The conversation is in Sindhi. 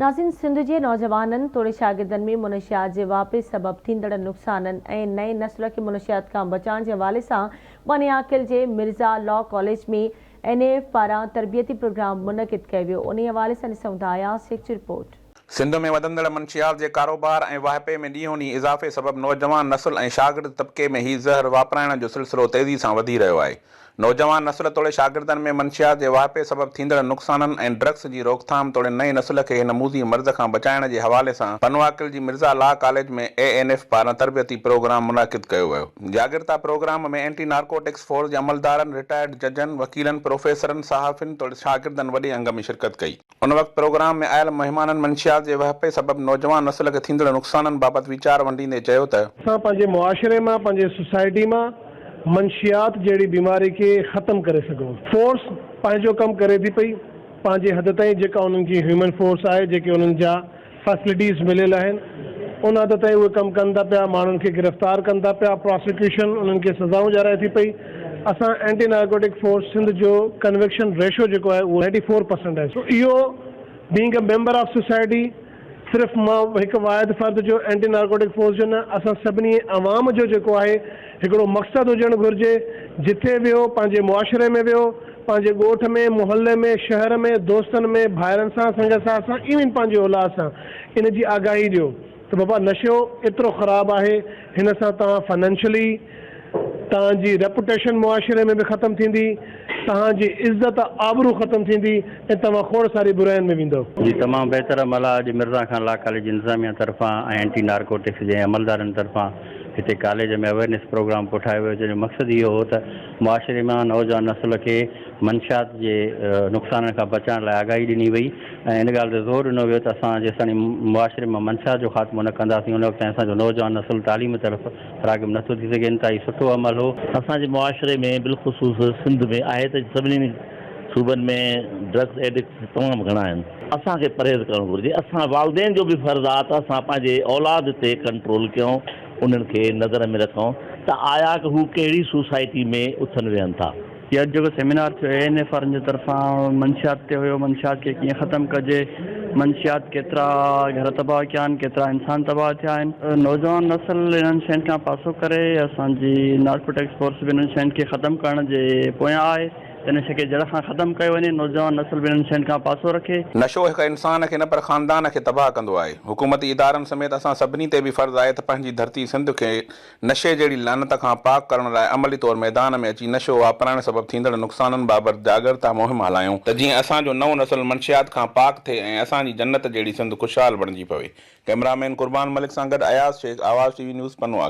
ناظرين سنڌ جي نوجوانن توڙي شاگردن ۾ منشيات جي واهپي سبب ٿيندڙ نقصانن ۽ نئين نسل کي منشيات کان بچائڻ جي حوالي سان باني عاقل جي Mirza law college ۾ N A F پاران تربيتي پروگرام منعقد ڪيو ويو انهي حوالي سان ڏسون ٿا اياز شيخ جي رپورٽ. سنڌ ۾ وڌندڙ منشيات جي ڪاروبار ۽ واهپي ۾ ڏينهون ڏينهن اضافي سبب نوجوان نسل ۽ شاگرد طبقي ۾ هي زهر واپرائڻ جو سلسلو تيزي سان وڌي رهيو آهي، نوجوان نسل توڙي شاگردن ۾ منشيات جي واهپي سبب ٿيندڙ نقصانن ۽ ڊرگس جي روڪٿام توڙي نئين نسل کي هن موذي مرض کان بچائڻ جي حوالي سان پنواڪل جي Mirza law college ۾ A N F پاران تربيتي پروگرام منعقد ڪيو ويو. جاڳرتا پروگرام ۾ اينٽي نارڪوٽڪس فورس جي عملدارن، رٽائرڊ ججن، وڪيلن، پروفيسرن، صحافين توڙي شاگردن وڏي انگ ۾ شرڪت ڪئي. ان وقت پروگرام ۾ آيل مهمانن منشيات جي وهپي سبب نوجوان نسل کي ٿيندڙ نقصانن بابت ويچار ونڊيندي چيو ته. اسان پنهنجي معاشري مان پنهنجي سوسائٽي مان منشيات جهڙي بيماري کي ختم ڪري سگهون. فورس پنهنجو ڪم ڪري ٿي پئي پنهنجي حد تائين جيڪا انهن جي هيومن فورس آهي جيڪي انهن جا. فيسلٽيز مليل آهن ان حد تائين اهي ڪم ڪن ٿا پيا ماڻهن کي گرفتار ڪن ٿا پيا پراسيڪيوشن انهن کي سزائون ڏيارائي ٿي پئي اسان اينٽي نارڪوٽڪ فورس سنڌ جو ڪنوڪشن ريشو جيڪو آهي اهو نائنٽي فور پرسنٽ آهي سو اهو being a member of society صرف مان هڪ واحد فرد جو اينٽي نارڪوٽڪ فورس جو نه اسان سڀني عوام جو جيڪو آهي هڪڙو مقصد هجڻ گهرجي، جتي ويهو، پنهنجي معاشري ۾ ويهو، پنهنجي ڳوٺ ۾، محلي ۾، شهر ۾، دوستن ۾، ڀائرن سان، سنگ ساٿ سان، ايون پنهنجي اولاد سان ان جي آگاهي ڏيو ته بابا نشو ايترو خراب آهي، هن سان توهان فنانشلي، توهان جي ريپوٽيشن معاشري ۾ به ختم ٿيندي، توهان جي عزت آبرو ختم ٿيندي ۽ توهان کوڙ ساري براين ۾ ويندؤ. جي تمام بهتر عمل آهي اڄ مرزا خان لا ڪاليج انتظاميه طرفان ۽ اينٽي نارڪوٽڪس جي عملدارن طرفان هتي ڪاليج ۾ اويرنيس پروگرام ڪوٺايو ويو جنهن جو مقصد اهو هو ته معاشري مان نوجوان نسل کي منشيات جي نقصانن کان بچائڻ لاء آگاهي ڏني وئي ۽ ان ڳالهه تي زور ڏنو ويو ته اسان جيستاڻي معاشري مان منشيات جو خاتمو نه ڪنداسين ان وقت تائين اسان جو نوجوان نسل تعليم طرف راغب نٿو ٿي سگهي انتهائي سٺو عمل هو اسان جي معاشري ۾ بالخصوص سنڌ ۾ آهي ته سڀني صوبن ۾ ڊرگس ايڊڪٽس تمام گهڻا آهن. اسان کي پرهيز ڪرڻ گهرجي. اسان والدين جو به فرض آ ته اسان پنهنجي اولاد تي ڪنٽرول ڪيون، انهن کي نظر ۾ رکون ته آيا ته هو ڪهڙي سوسائٽي ۾ اٿن ويهن ٿا. هي اڄ جيڪو سيمينار ٿيو اي اين ايف آرن جي طرفان منشيات تي هيو، منشيات کي ڪيئن ختم ڪجي، منشيات ڪيترا گهر تباهه ڪيا آهن، ڪيترا انسان تباهه ٿيا آهن، نوجوان نسل انهن شين کان پاسو ڪري، اسان جي نارڪوٽڪس فورس به انهن شين کي ختم ڪرڻ جي پويان آهي. ته نشي کي جڙ کان ختم ڪيو وڃي، نوجوان نسل به انهن شين کان پاسو رکي. نشو هڪ انسان کي نه پر خاندان کي تباهه ڪندو آهي، حڪومتي ادارن سميت اسان سڀني تي به فرض آهي ته پنهنجي ڌرتي سنڌ کي نشي جهڙي لعنت کان پاڪ ڪرڻ لاء عملي طور ميدان ۾ اچي نشو واپرائڻ سبب ٿيندڙ نقصانن بابت جاڳرتا مهم هلايون ته جيئن اسان جو نئون نسل منشيات کان پاڪ ٿئي ۽ اسان جي جنت جهڙي سنڌ خوشحال بڻجي پوي. ڪئميرا مين قربان ملڪ سان گڏ Ayaz Shaikh Awaz T V news پنو آڪي.